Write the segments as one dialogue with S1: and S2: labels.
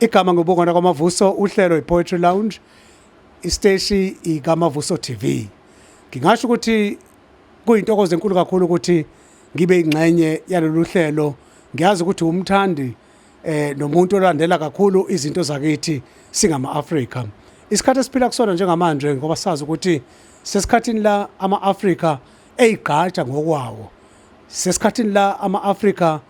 S1: Igama ngobongwana kwamavuso uhlelo iPoetry Lounge isteshi ikamavuso TV. Ngingasho ukuthi kuyintokozo enkulu kakhulu ukuthi ngibe ingxenye yalolu hlelo. Ngiyazi ukuthi umthandi eh nomuntu olandela kakhulu izinto zakithi singama-Afrika. Isikhathi esiphila kusona njengamanje ngoba sazi ukuthi sesikhathini la ama-Afrika eyigqaja ngokwawo. Sesikhathini la ama-Afrika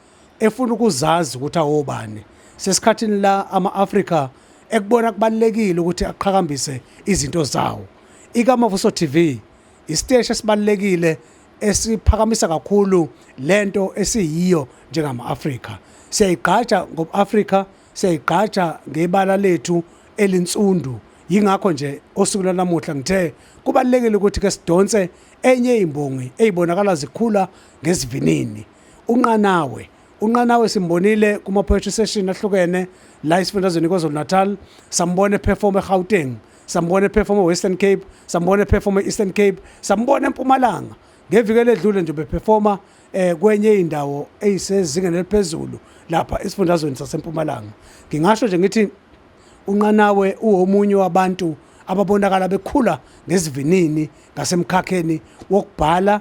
S1: efuna ukuzazi ukuthi awobani sesikhathini la ama-afrika ekubona kubalulekile ukuthi aqhakambise izinto zawo ikamavuso tv isiteshi esibalulekile esiphakamisa kakhulu lento esiyiyo njengama-afrika siyayigqaja ngobu-afrika siyayigqaja ngebala lethu elinsundu yingakho nje osuku lanamuhla ngithe kubalekile ukuthi ke sidonse enye imbongi eyibonakala zikhula ngesivinini unqanawe unqanawe simbonile kuma poetry session ahlukene la esifundazweni KwaZulu Natal sambona eperform eGauteng sambona eperform eWestern Cape sambona eperform eEastern Cape sambona eMpumalanga ngeviki eledlule nje beperforma eh kwenye indawo eyisezingeni eliphezulu lapha esifundazweni saseMpumalanga ngingasho nje ngithi unqanawe uwomunye wabantu ababonakala bekhula ngesivinini ngasemkhakheni wokubhala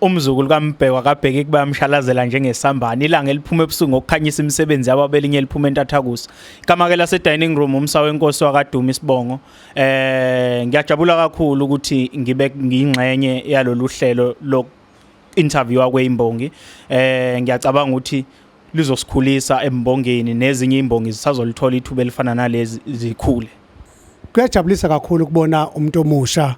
S2: Umzukulu kaMbhekwa kabheki kuba yamshalazela njengesambane ilanga eliphuma ebusuku ngokukhanyisa imisebenzi yabo abelinye eliphuma entathakusa. Ikamake lase dining room umsa wenkosi wakaduma isibongo. Eh ngiyajabula kakhulu ukuthi ngibe ngingxenye yalolu hlelo lo interview akweyimbongi. Eh ngiyacabanga ukuthi lizosikhulisa embongeni nezinye imbongi zisazolithola ithuba elifana nalezi zikhule. Kuyajabulisa
S1: kakhulu ukubona umuntu omusha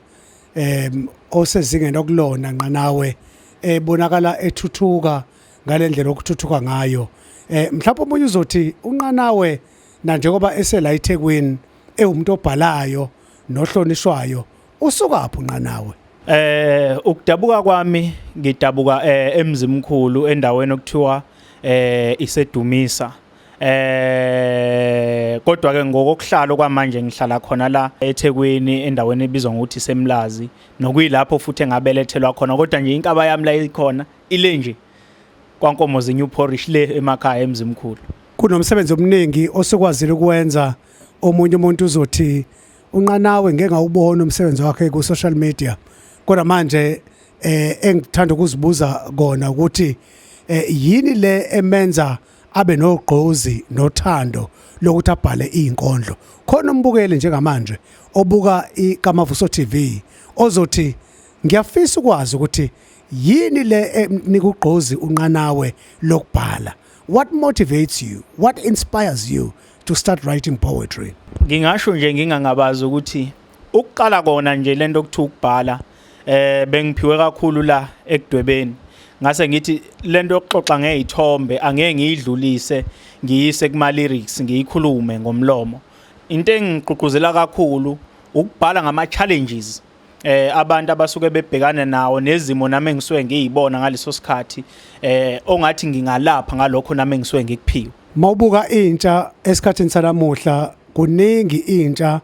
S1: em osezingeni okulona nqanawe ebonakala ethuthuka ngalendlela okuthuthuka ngayo eh mhlawumbe omunye uzothi unqanawe na njengoba esela eThekwini ewumuntu obhalayo nohlonishwayo usukaphi unqanawe eh
S2: ukudabuka kwami ngidabuka eh, emzimkhulu endaweni okuthiwa eh isedumisa eh kodwa ke ngokokuhlala okwamanje ngihlala khona la eThekwini endaweni ebizwa ngokuthi Semlazi nokuyilapho futhi engabelethelwa khona kodwa nje inkaba yami la ikhona ile nje kwankomo zeNew Porish le emakhaya emzimkhulu kunomsebenzi
S1: omningi osukwazile ukwenza omunye umuntu uzothi unqanawe ngeke ngawubona umsebenzi wakhe ku social media kodwa manje eh engithanda ukuzibuza kona ukuthi eh yini le emenza abe nogqozi nothando lokuthi abhale izinkondlo khona umbukeli njengamanje obuka iKamavuso TV ozothi ngiyafisa ukwazi ukuthi yini le ekunika ugqozi unqanawe lokubhala what motivates you what inspires you to start writing poetry ngingasho nje
S2: ngingangabazi ukuthi ukuqala kona nje lento okuthi ukubhala eh bengiphiwe kakhulu la ekudwebeni ngase ngithi lento yokuxoxa ngezithombe angeke ngiyidlulise ngiyise kuma lyrics ngiyikhulume ngomlomo into engigqugquzela kakhulu ukubhala ngama challenges eh abantu abasuke bebhekane nawo nezimo nami engisuke ngiyibona ngaleso sikhathi eh ongathi ngingalapha ngalokho nami engisuke ngikuphiwe mawubuka intsha
S1: esikhathini sanamuhla kuningi intsha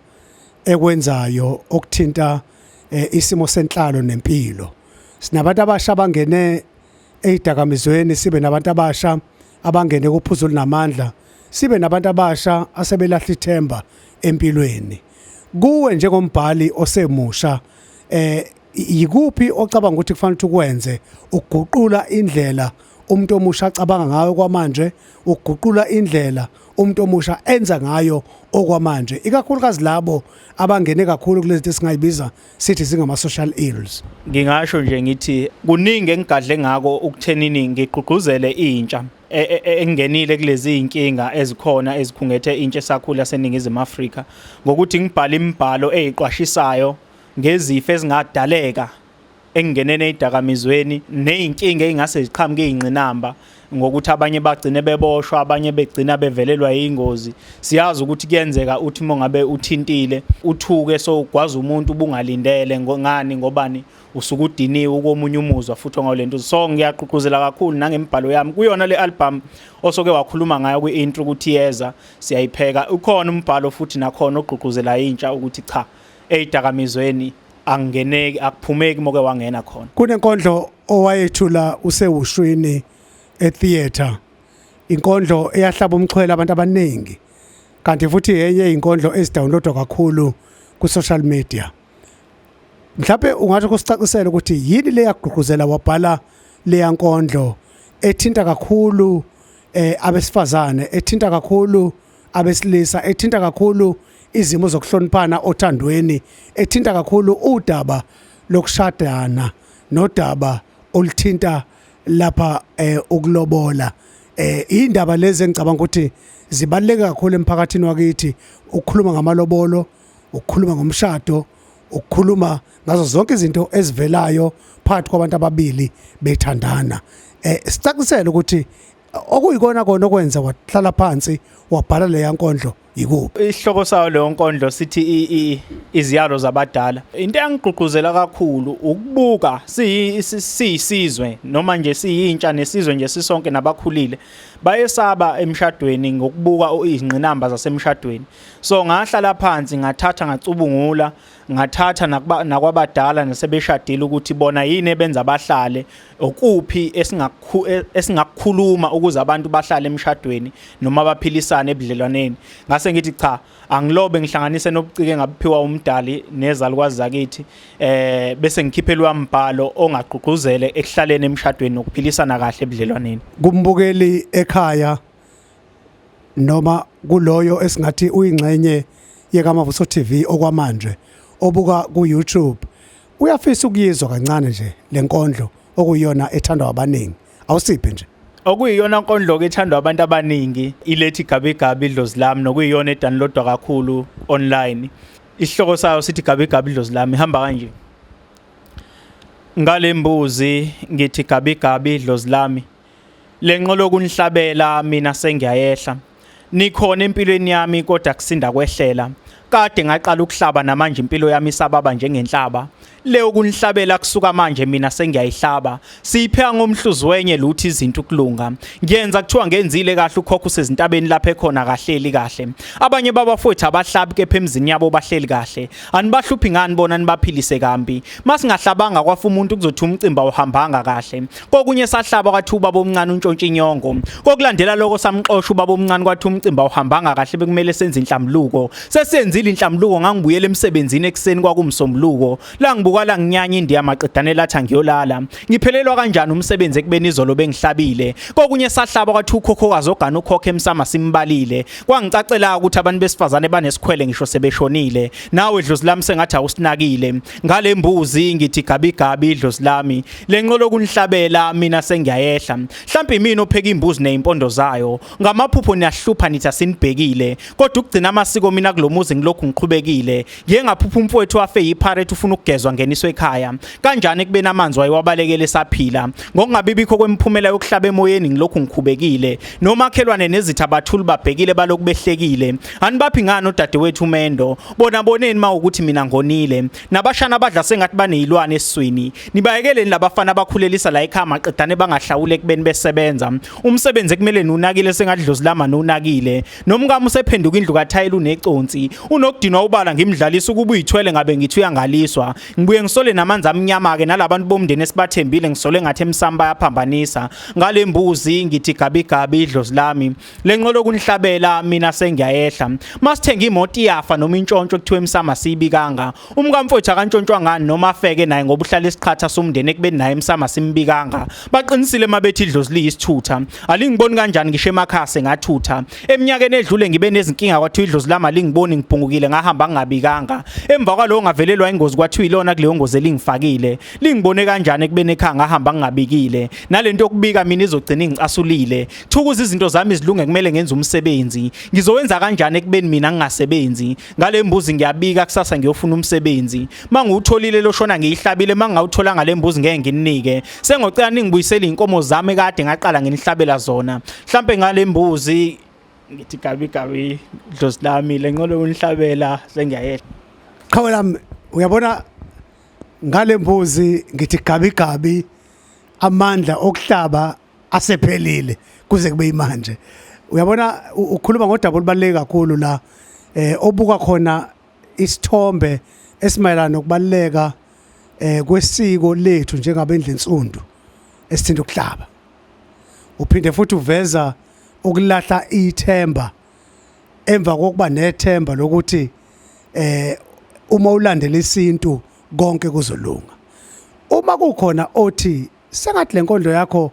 S1: ekwenzayo okuthinta eh, isimo senhlalo nempilo sinabantu abasha abangene ezidakamizweni sibe nabantu abasha abangene kuphuzo linamandla sibe nabantu abasha asebelahla ithemba empilweni kuwe njengombhali osemusha eh yikuphi ocabanga ukuthi kufanele ukuthi ukwenze ukuguqula indlela umuntu omusha acabanga ngayo kwamanje ukuguqula indlela umuntu omusha enza ngayo okwamanje ikakhulukazi labo abangene kakhulu kulezi zinto esingayibiza sithi zingama social ills ngingasho nje
S2: ngithi kuningi engigadle ngako ukuthenini ngigqugquzele intsha e, e, e, engenile kulezi zinkinga ezikhona ezikhungethe intsha esakhula seningizimu Afrika ngokuthi ngibhale imibhalo eziqwashisayo ngezifo ezingadaleka ekungeneni ezidakamizweni nezinkinga ezingase ziqhamuke izingqinamba ngokuthi abanye bagcine beboshwa abanye begcina bevelelwa ingozi siyazi ukuthi kuyenzeka uthi mongabe uthintile uthuke so ugwaza umuntu ubungalindele ngani ngobani usuke udiniwe ukomunye umuzwa futhi ngolento so ngiyaqhuquzela kakhulu nangemibhalo yami kuyona le album osoke wakhuluma ngayo kwi intro ukuthi yeza siyayipheka ukhona umbhalo futhi nakhona ogqugquzela intsha ukuthi cha eyidakamizweni angeneki akuphumeki moke wangena khona kunenkondlo
S1: owayethula usewushwini etheater inkondlo eyahlaba umxhwele abantu abaningi kanti futhi yenye inkondlo ezidownloadwa kakhulu ku social media mhlawumbe ungathi kusicacisela ukuthi yini le yagqugquzela wabhala leya nkondlo ethinta kakhulu eh abesifazane ethinta kakhulu abesilisa ethinta kakhulu izimo zokuhloniphana othandweni ethinta kakhulu udaba lokushadana nodaba oluthinta lapha eh ukulobola eh indaba lezi engicabanga ukuthi zibaluleke kakhulu emphakathini wakithi ukukhuluma ngamalobolo ukukhuluma ngomshado ukukhuluma ngazo zonke izinto ezivelayo phakathi kwabantu ababili bethandana eh sicacisele ukuthi okuyikona kona okwenza wahlala phansi wabhala leya nkondlo yikuphi isihloko sayo leyo
S2: nkondlo sithi iziyalo zabadala into engigqugquzela kakhulu ukubuka siyisizwe noma nje siyintsha nesizwe nje sisonke nabakhulile bayesaba emshadweni ngokubuka izingqinamba zasemshadweni so ngahlala phansi ngathatha ngacubungula ngathatha nakwabadala nasebeshadile ukuthi bona yini ebenza bahlale okuphi e, esingakukhuluma ukuze abantu bahlale emshadweni noma baphilisane ebudlelwaneni ngase ngithi cha angilobe ngihlanganise nobucike ngabuphiwa umdali nezalukwazi zakithi eh bese ngikhiphelwa umbhalo ongagqugquzele ekuhlaleni emshadweni nokuphilisana kahle ebudlelwaneni kumbukeli
S1: ekhaya noma kuloyo esingathi uyingxenye yekamavuso TV okwamanje obuka ku YouTube uyafisa ukuyizwa kancane nje lenkondlo okuyona ethandwa abaningi awusiphe nje okuyiyona nkondlo
S2: ke ethandwa abantu abaningi ilethi gabi gabi idlozi lami nokuyiyona edownloadwa kakhulu online isihloko sayo sithi gabi gabi idlozi lami ihamba kanje ngalembuzi ngithi gabi gabi idlozi lami lenqolo kunhlabela mina sengiyayehla nikhona empilweni yami kodwa kusinda kwehlela kade ngaqala ukuhlaba namanje impilo yami isababa njengenhlaba leyo kunihlabela kusuka manje mina sengiyayihlaba siyipheka ngomhluzi wenye luthi izinto ukulunga ngiyenza kuthiwa ngenzile kahle ukhokho usezintabeni lapha ekhona kahleli kahle abanye babafowethu abahlabi kepha emzini yabo bahleli kahle anibahluphi ngani bona nibaphilise kambi masingahlabanga kwafa umuntu kuzothi umcimba uhambanga kahle kokunye sahlaba kwathi ubaba omncane untshontsha inyongo kokulandela lokho samxosha ubaba omncane kwathi umcimbi awuhambanga kahle bekumele senze inhlamluko sesenzile inhlamluko ngangibuyela emsebenzini ekuseni kwakumsombuluko la ngibuka la nginyanya indiya maqedane lathi angiyolala ngiphelelwa kanjani umsebenzi ekubeni izolo bengihlabile kokunye sahlaba kwathi ukhokhokazi ogana ukhokhe emsama simbalile kwangicacela ukuthi abantu besifazane banesikhwele ngisho sebeshonile nawe dlozi lami sengathi awusinakile ngale mbuzi ngithi gabi gabi idlozi lami lenqolo kunihlabela mina sengiyayehla mhlawumbe mina opheka imbuzi nezimpondo zayo ngamaphupho niyahlupha nithi asinibhekile kodwa ukugcina amasiko mina kulomuzi ngilokhu ngiqhubekile ngiye ngaphupha umfowethu wafe yiparate ufuna ukugezwa ngeniswe ekhaya kanjani ekubeni amanzi wayewabalekele saphila ngokungabibikho kwemiphumela yokuhlaba emoyeni ngilokhu ngikhubekile nomakhelwane nezitha bathuli babhekile balokhu behlekile Anibaphi ngani odadewethu umendo bona boneni mawukuthi mina ngonile nabashana abadla sengathi banezilwane esiswini nibayekeleni labafana abakhulelisa la ekhaya maqedane bangahlawule kubeni besebenza umsebenzi ekumele nunakile sengadlozilama nunakile nomkami usephenduka indlu kathayela uneconsi unokudinwa ubala ngimdlalisa ukuba uyithwele ngabe ngithi uyangaliswa ngibuye ngisole namanzi amnyama ke nalabantu bomndeni esibathembile ngisole ngathi emsamba yaphambanisa ngalembuzi ngithi gabi gabi idlozi lami lenqolo kunihlabela mina sengiyayehla masithenga imoto iyafa noma intshontsho kuthiwa emsama siyibikanga umkamfowethu akantshontshwa ngani noma afeke naye ngoba uhlala isiqhatha somndeni ekubeni naye emsama simbikanga baqinisile mabethi idlozi liyisithutha alingiboni kanjani ngisho emakhaya sengathutha eminyakeni edlule ngibe nezinkinga kwathiwa idlozi lami alingiboni ngiphungukile ngahamba ngingabikanga emva kwalowo ngavelelwa ingozi kwathiwa ilona kuleyo ngozi elingifakile lingibone kanjani ekubeni ekhaya ngahamba ngingabikile nalento yokubika mina izogcina ingicasulile Thukuza izinto zami zilunge kumele ngenze umsebenzi. Ngizowenza kanjani ekubeni mina ngingasebenzi? Ngale mbuzi ngiyabika kusasa ngiyofuna umsebenzi. Mangiwutholile loshona ngiyihlabile mangawuthola ngale mbuzi ngeke nginike. Sengocela ningibuyisele inkomo zami kade ngaqala nginihlabela zona. Mhlambe ngale mbuzi ngithi gabi gabi dlozi lami lenqolo unihlabela sengiyayehla. Qhawe lami
S1: uyabona ngale mbuzi ngithi gabi gabi amandla okuhlaba asephelile kuze kube imanje uyabona ukhuluma ngodaba olubaluleke kakhulu la eh obuka khona isithombe esimayelana nokubaluleka eh kwesiko lethu njengabendle nsundu esithinta ukuhlaba uphinde futhi uveza ukulahla ithemba emva kokuba nethemba lokuthi eh uma ulandela isintu konke kuzolunga uma kukhona othi Sengathi le nkondlo yakho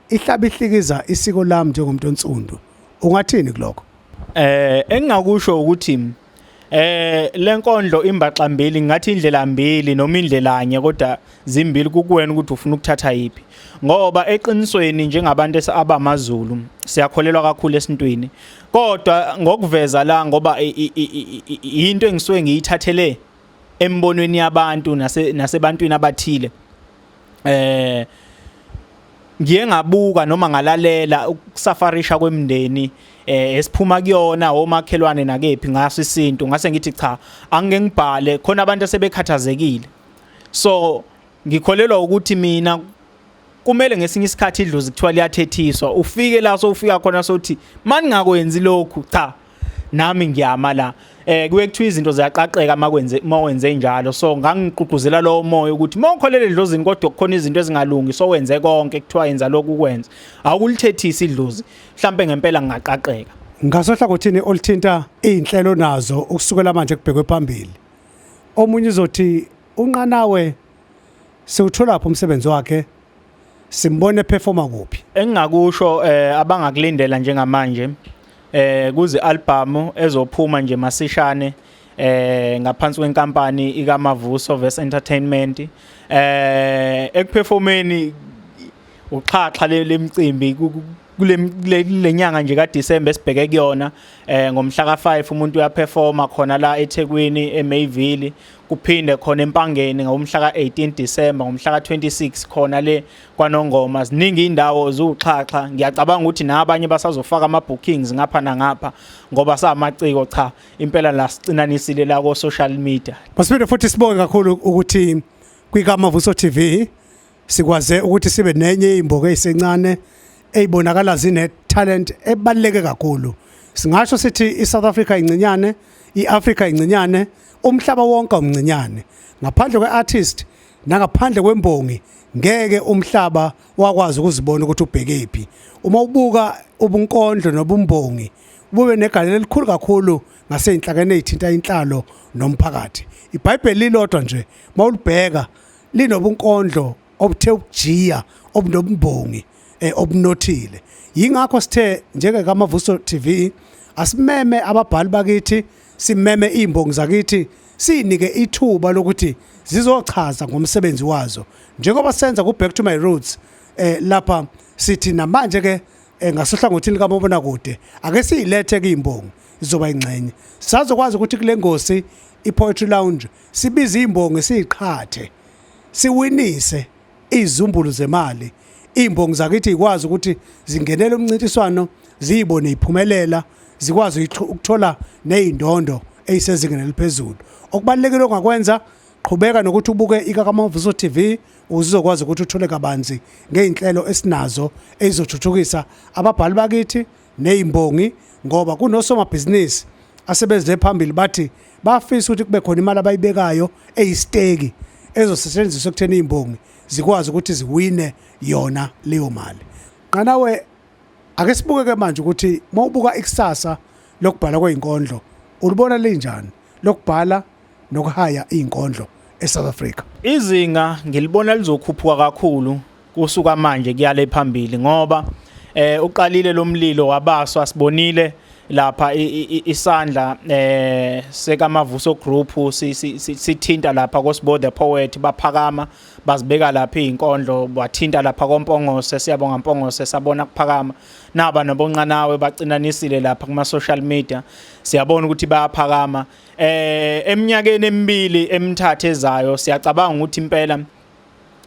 S1: ihlaba ihlikiza isiko lami njengomuntu onsundu. Ungathini kuloko? Eh
S2: engingakusho ukuthi eh lenkondlo imbaxa mbili ngathi indlela mbili noma indlela anye kodwa zimbili kukuwena ukuthi ufuna ukuthatha yipi ngoba eqinisweni njengabantu abamaZulu siyakholelwa kakhulu esintwini kodwa ngokuveza la ngoba into engisuke ngiyithathele embonweni yabantu nase nasebantwini abathile eh ngiye ngabuka noma ngalalela ukusafarisha kwemndeni eh esiphuma kuyona omakhelwane nakephi ngaso isintu ngase ngithi cha angeke ngibhale khona abantu asebekhathazekile so ngikholelwa ukuthi mina kumele ngesinye isikhathi idlozi kuthiwa liyathethiswa ufike la sowufika khona sothi mani ngakwenzi lokhu cha nami ngiyama la eh kuye kuthiwa izinto ziyaqaqeka makwenze mawenze njalo so ngangigqugquzela lowo moya ukuthi mawukholele idlozini kodwa kukhona izinto ezingalungi so wenze konke kuthiwa yenza lokhu kwenza awukulithethisi idlozi mhlambe ngempela ngingaqaqeka ngasohlangothini
S1: olithinta izinhlelo nazo ukusukela manje kubhekwe phambili omunye uzothi unqanawe siwuthola lapho umsebenzi wakhe simbone performa kuphi engingakusho eh
S2: abangakulindela njengamanje eh kuzi album ezophuma nje masishane eh ngaphansi kwenkampani ikamavuso Verse Entertainment eh ekuperformeni uxhaxha lemcimbi kulenyanga nje kaDecember sibheke kuyona eh ngomhla ka5 umuntu uyaperforma khona la eThekwini eMayville kuphinde khona empangeni ngomhla ka-18 December ngomhla ka-26 khona le kwanongoma ziningi indawo ziwuxhaxha ngiyacabanga ukuthi nabanye basazofaka ama-bookings ngapha nangapha ngoba samaciko cha impela la sicinanisile la ko-social media masipinde futhi sibonge
S1: kakhulu ukuthi kwikamavuso tv Sikwaze ukuthi sibe nenye imboke esencane eyibonakala zine talent ebaluleke kakhulu. Singasho sithi iSouth Africa incinyane, iAfrica incinyane, umhlaba wonke umncinyane. Ngaphandle kweartist nangaphandle kwembongi ngeke umhlaba wakwazi ukuzibona ukuthi ubhekephi. Uma ubuka ubunkondlo nobumbongi bube negalelo elikhulu kakhulu ngaseyinhlakeni ezithinta inhlalo nomphakathi. IBhayibheli lilodwa nje mawulibheka linobunkondlo obuthe ukujiya obunobumbongi eh, obunothile yingakho sithe njenge kamavuso TV asimeme ababhali bakithi simeme imbongi zakithi sinike ithuba lokuthi zizochaza ngomsebenzi wazo njengoba senza ku back to my roots eh lapha sithi namanje ke eh, ngasohlangothini kamabona kude ake siyilethe kuyimbongi izoba ingxenye sizokwazi ukuthi kule ngosi ipoetry lounge sibize imbongi siyiqhathe siwinise izumbulu zemali imbongi zakithi ikwazi ukuthi zingenele umncintiswano ziyibone iphumelela zikwazi ukuthola nezindondo eyisezingeni eliphezulu okubalekile ongakwenza qhubeka nokuthi ubuke ikakamavuso TV uzizokwazi ukuthi uthole kabanzi ngeinhlelo esinazo ezizothuthukisa ababhali bakithi nezimbongi ngoba kunosomabhizinisi asebezile phambili bathi bafisa ukuthi kube khona imali abayibekayo eyisteki ezosetshenziswa ekutheni izimbongi zikwazi ukuthi ziwine yona leyo mali qanawe ake sibuke ke manje ukuthi mawubuka ikusasa lokubhala kwezinkondlo ulibona linjani lokubhala nokuhaya izinkondlo eSouth Africa. Izinga
S2: ngilibona lizokhuphuka kakhulu kusuka manje kuyale phambili ngoba eh uqalile lomlilo wabaswa sibonile lapha isandla eh sekamavuso group sithinta lapha kosibo the poet baphakama bazibeka lapha izinkondlo bathinta lapha kompongose siyabonga mpongose sabona kuphakama naba nobonqanawe bacinanisile lapha kuma social media siyabona ukuthi bayaphakama eh eminyakeni emibili emithathu ezayo siyacabanga ukuthi impela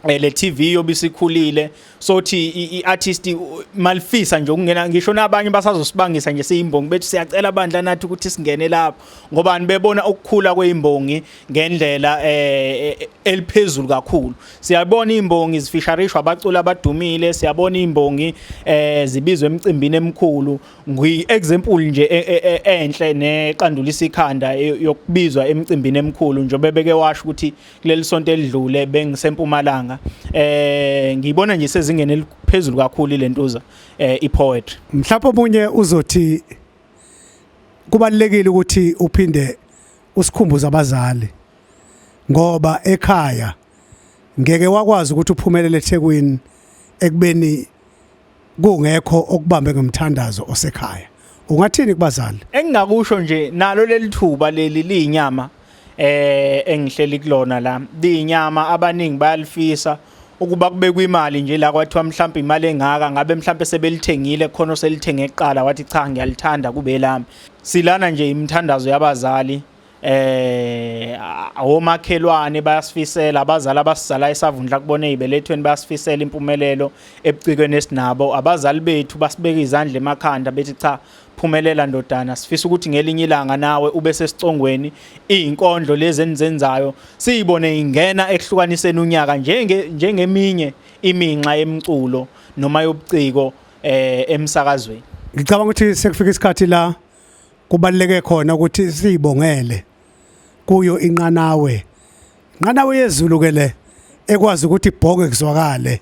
S2: eh, le TV yobisikhulile sothi iartist malifisa nje ukungena ngisho nabanye basazosibangisa nje siyimbongi bethu siyacela bandla nathi ukuthi singene lapho ngoba nibebona ukukhula kweimbongi ngendlela eh, eh eliphezulu kakhulu siyabona imbongi zifisharishwa abaculi abadumile siyabona imbongi eh zibizwe emcimbini emkhulu ngiyi-example nje e, e, e, enhle neqandulisa ikhanda yokubizwa emcimbini emikhulu njengoba beke washo ukuthi kuleli sonto elidlule bengisempumalanga eh ngiyibona nje sezingene eliphezulu kakhulu lentuza eh ipoetry mhlawumbe omunye
S1: uzothi kubalekile ukuthi uphinde usikhumbuze abazali ngoba ekhaya ngeke wakwazi ukuthi uphumelele eThekwini ekubeni kungekho okubambe ngomthandazo osekhaya ungathini kubazali engingakusho nje
S2: nalo lelithuba leli liyinyama eh engihleli kulona la liyinyama abaningi bayalifisa ukuba kubekwe imali nje la kwathiwa mhlawumbe imali engaka ngabe mhlawumbe sebelithengile khona oselithenge eqala wathi cha ngiyalithanda kube lami silana nje imithandazo yabazali eh omakhelwane bayasifisela abazali abasizala esavundla kubona ezibelethweni bayasifisela impumelelo ebucikweni esinabo abazali bethu basibeka izandla emakhanda bethi cha phumelela ndodana sifisa ukuthi ngelinye ilanga nawe ube sesicongweni izinkondlo lezi enizenzayo siyibone ingena ekuhlukaniseni unyaka njenge njengeminye iminxa yemculo noma yobuciko eh emsakazweni ngicabanga ukuthi
S1: sekufika isikhathi la kubaluleke khona ukuthi siyibongele kuyo inqanawe inqanawe yezulu ke le ekwazi ukuthi ibhonge kuzwakale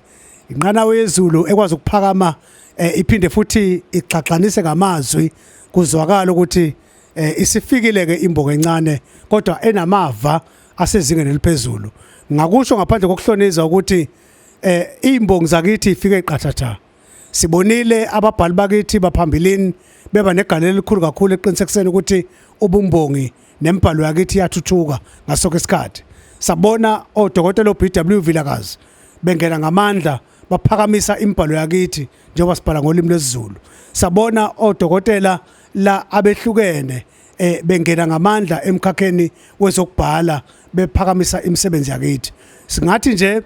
S1: inqanawe yezulu ekwazi ukuphakama eh, iphinde futhi igxagxanise ngamazwi kuzwakala ukuthi eh, isifikile ke imboka encane kodwa enamava asezingeni eliphezulu ngakusho ngaphandle kokuhlonizwa ukuthi eh imbongi zakithi ifike qathatha Sibonile ababhali bakithi baphambilini beba negalelo elikhulu kakhulu eqinisekiseni ukuthi ubumbongi nembhalo yakithi iyathuthuka ngasoke isikhathi. Sabona odokotela oBW Vilakazi bengena ngamandla baphakamisa imbhalo yakithi njengoba sibhala ngolimi lwesiZulu. Sabona odokotela la abehlukene eh bengena ngamandla emkhakheni wezokubhala bephakamisa imisebenzi yakithi. Singathi nje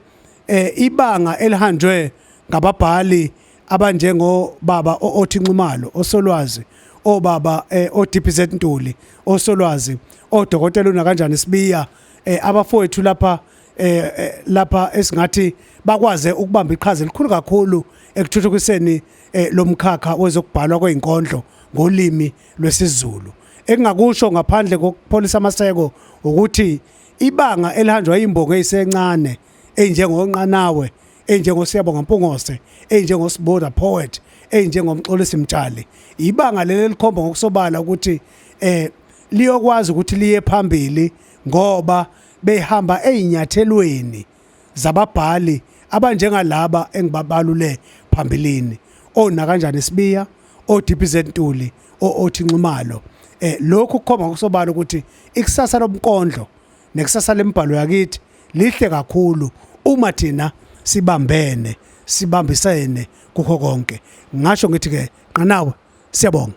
S1: eh ibanga elihanjwe ngababhali abanjengo baba othi Nxumalo osolwazi obaba eh, oDPZ Ntuli osolwazi odokotela una kanjani sibiya eh, abafowethu lapha eh, eh, lapha esingathi bakwaze ukubamba iqhaza elikhulu kakhulu ekuthuthukiseni eh, lomkhakha wezokubhalwa kwezinkondlo ngolimi lwesiZulu engingakusho ngaphandle kokupholisa amaseko ukuthi ibanga elihanjwa imbongo eyisencane enjengonqanawe enjengosiyabonga mpungose enjengosiboda poet enjengomxolisi mtshali ibanga leli likhomba ngokusobala ukuthi eh liyokwazi ukuthi liye phambili ngoba behamba ezinyathelweni zababhali abanjengalaba engibabalule phambilini ona kanjani sibiya oDPZ Ntuli othi Nxumalo eh lokhu kukhomba kusobala ukuthi ikusasa lomkondlo nekusasa lembhalo yakithi lihle kakhulu uma thina sibambene sibambisene kukho konke ngasho ngithi ke qanawe siyabonga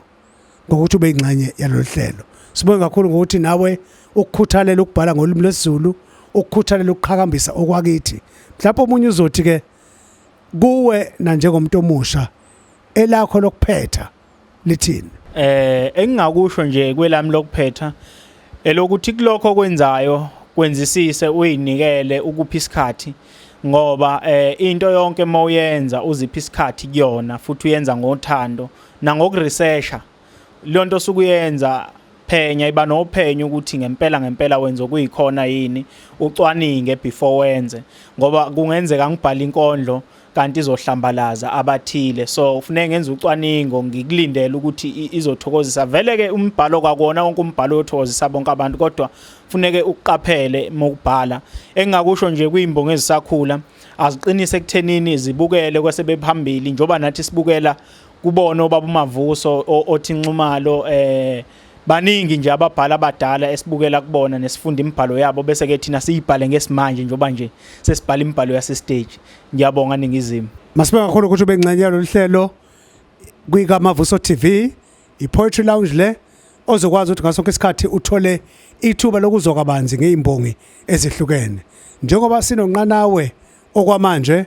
S1: ngokuthi ube ingxenye yalolu hlelo sibonge kakhulu ngokuthi nawe ukukhuthalela ukubhala ngolimi lwesiZulu ukukhuthalela ukuqhakambisa okwakithi mhlawumbe omunye uzothi ke kuwe na njengomuntu omusha elakho lokuphetha lithini eh
S2: engingakusho nje kwelami lokuphetha elokuthi kulokho kwenzayo kwenzisise uyinikele ukuphi isikhathi ngoba eh into yonke mawuyenza uziphi isikhathi kuyona futhi uyenza ngothando nangokuresearcha leyo nto osuke uyenza phenya iba nophenyo ukuthi ngempela ngempela wenza okuyikhona yini ucwaninge before wenze ngoba kungenzeka ngibhala inkondlo kanti izohlambalaza abathile so kufuneka ngenza ucwaningo ngikulindele ukuthi izothokozisa vele ke umbhalo kwakona wonke umbhalo uyothokozisa bonke abantu kodwa kufuneke uqaphele mokubhala engingakusho nje kwimbongo ezisakhula aziqinise ekuthenini zibukele kwase bephambili njoba nathi sibukela kubona obaba uMavuso othi Nxumalo eh baningi nje ababhala abadala esibukela kubona nesifunda imibhalo yabo bese ke thina siyibhale ngesimanje njengoba nje sesibhala imibhalo yase stage ngiyabonga ningizimu Masibonga kakhulu ukuthi ube
S1: ngcenye yalolu hlelo kwika Mavuso TV iPoetry Lounge le ozokwazi ukuthi ngasonke isikhathi uthole ithuba lokuzwa kabanzi ngeimbongi ezihlukene njengoba sinonqanawe okwamanje